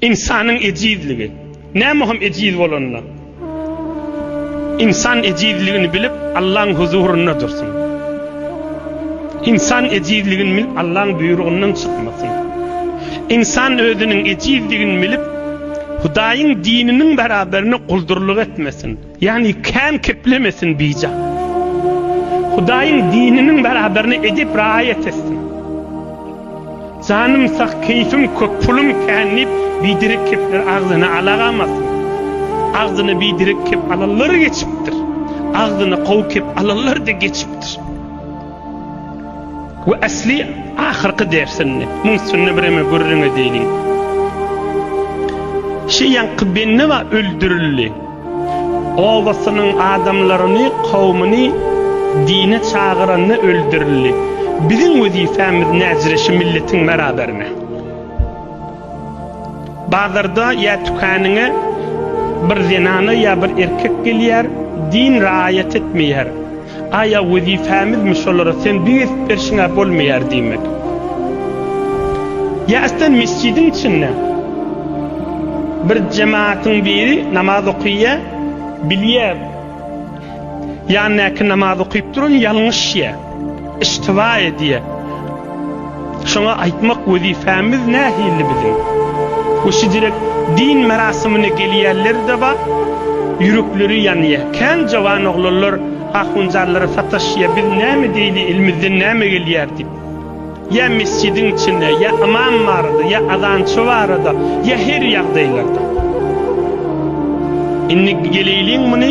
Ynsanyň ejizligi. Näme hem ejiz bolanda, ynsan ejizligini bilip, Allaň huzurynda dursun. Ynsan ejizligini bilip, Allaň buýrugyndan çykmasyn. Ynsan özüniň ejizligini bilip, Hudaýyň dininiň beraberine guldurlyk etmesin. Ýagny kän keplemesin bijan. Hudaýyň dininiň beraberini edip raýat etsin. Janym sag, keýfim köp, pulum kän diýip biderek kepler agzyny alagamasyn. Agzyny biderek kep alanlar geçipdir. Agzyny gowy kep alanlar-da geçipdir. We asly ahyrky dersinde muň üstünde bireme gürrüň edeyliň. Şeýanky Bennewa öldürildi. Obasynyň adamlaryny, kowmuny dine çagyranda öldürildi. Biziň wezipämiz näzire şu milletiň beraberine. Bazarda ýa tükanyňa bir zenana ýa bir erkek gelýär, din raýat etmeýär. Aýa wezipemizmi şolara sen düýe edip berşiňä bolmaýar diýmek. Ýa islen mesjidiň içinde bir jematyň biri namaz okyýa bilýä ýandaky namaz okyp duran ýalňyşýa, iştiba edýä. Şoňa aýtmak wezipamiz nähilli biziň? We şidürek din merasimine gelýärler-de bar, ýürekleri ýanýar. Kän jowan oglanlar ahunjanlara sataşýar, biz näme deýli, elimizden näme gelýär diýip. Ýa mesjidiň içinde, ýa ymam barada, ýa azançy barada, ýa her ýagdaýlarda. Indi geleýliň muny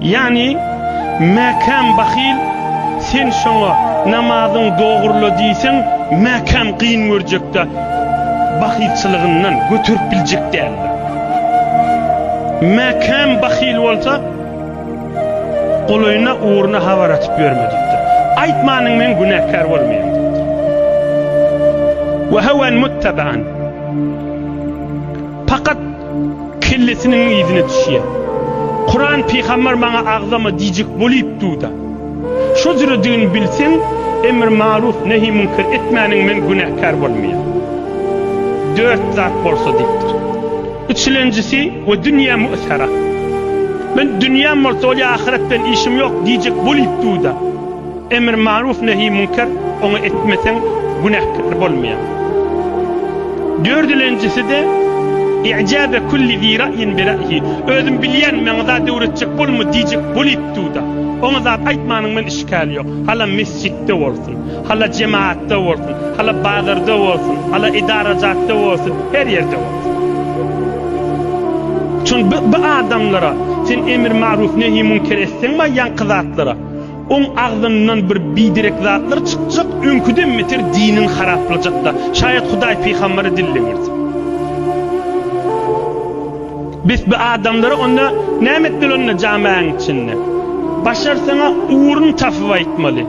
Ýagny, Mäkäm bahyl, sen şoňa namazyň dogrula diýseň, Mäkäm gyn görjek-de, bahylçylygyndan göterip biljek däldir. Mäkäm bahyl bolsa, golaýyna, ugruna habar atyp ýörmedikdir. Aýtmanyň men günäkär bolmaýan diýipdir. Wehawan muttaban. Pakat kellesiniň yzyna düşýär. Kuran pygamber maňa agzama diýjek bolyp duda. Şo jüredigini bilseň emr maruf nehi münker etmäniň men günäkär bolmaýar. Dört zat bolsa diýipdir. Üçlenjisi we dünýe mü'sera. Men dünýäm bolsa bolýar ahyret bilen işim ýok diýjek bolyp duda. Emr maruf nehi münker, ony etmeseň günäkär bolmaýaň. Dördülenjisi-de, I'jâbe kulli zi ra'yin bi ra'yihi, özüm bilýän, maňa zat öwretjek bolma diýjek bolipduda, oňa zat aýtmanyň bilen işgäli ýok. Hala mesjitde bolsun, hala jemaatda bolsun, hala bazarda bolsun, hala edarajatda bolsun, her ýerde bolsun. Şonda bu adamlara, sen emr maruf nehi münker etseň maýýanky zatlara, Oň agzyndan bir biderek zatlar çykjak, öňküden beter diniň haraplajakda. Şaýat Hudaý pygambere dille girdi. Bes bi adamlara onda näme etmeli onda jamaäň içinde? Başar saňa ugrun tapyp aýtmaly.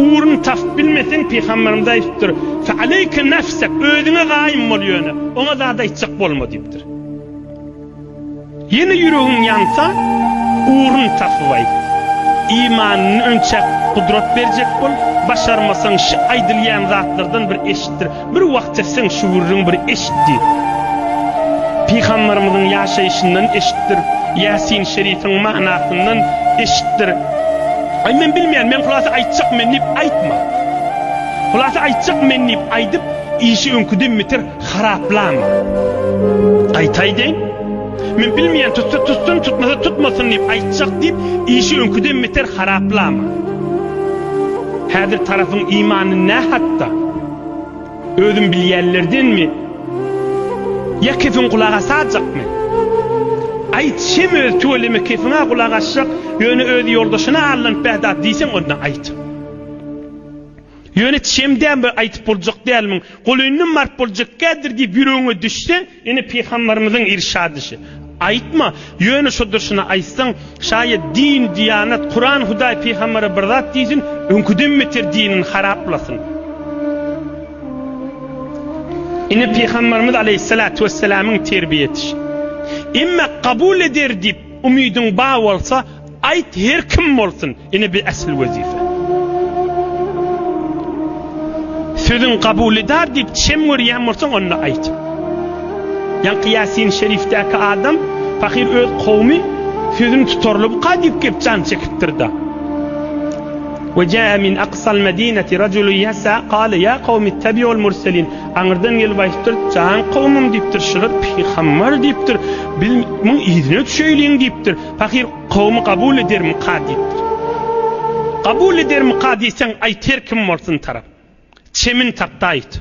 Ugrun tapyp bilmeseň pygamberimiz aýdypdyr, Fe aleýke nefsek, özüňe gaýym bol ýöne, oňa zat aýtjak bolma diýipdir. Ýene ýüregiň ýansa, ugrun tapyp aýt. Imanyny önçäk gudrat berjek bol. Başarmasaň, şi aýdylýan zatlardan bir eşitdir. Bir wagt seseň, şu gürrüň bir eşit diýip. Pygamberimiziň ýaşaýşyndan eşitdir. Ýasin şerifiň manasyndan eşitdir. Aý, men bilmeýän, men hulasa aýtjak men diýip aýtma. Hulasa aýtjak men diýip aýdyp, işi öňküden beter Haraplama. Gaýtaýdyn. Men bilmeýän tutsa tutsun tutmasa tutmasyn diýip aýtjak diýip işi öňküden beter haraplama. Häzir tarapyň imany nä hatda? Özüm bilýänlerdenmi? Ýa kefin gulak asajakmy? Aýt şem öz tüweleme kefiňä gulak asjak ýöne öz ýoldaşyna allanyp bäh dat diýseň onda aýt. Ýöne çemdäm we aýdyp boljak dälmiň, golyndan baryp boljak kädir diýip ýüregiňe düşse, ine pygamberimiziň irşadyşy, Aýtma, ýöne şo durşuna aýtsaň, şaýat din, diýanat, Kuran, Hudaý, pygambere bir zat diýsin, öňküden beter dinini haraplasyn. Ine pygamberimiz aleýhissalatu wessalamyň terbiýeedişi. Emma kabul eder diýip umydyň bar bolsa, aýt her kim bolsun, Ine bir äsli wezipe. Sözüň kabulydar diýip çem görýän bolsaň onda aýt. Ýaňky Ýasin Şerifdäki adam pahyr öz kowmy sözüni tutarlybka diýip gep jan çekipdir-da. Ve jaa min aqsal medineti raculu yasa qala ya qawmi ittabiul murselin. Aňyrdan gelip aýtdyr, "Jan kowmym" diýipdir, "Şular pygambar" diýipdir. "Biz muň yzyna düşeýliň" diýipdir. Pahyr Kowumy kabul edermika diýipdir. Kabul edermika diýseň aýt her kim bolsun tarap. Çemin Taktaýew.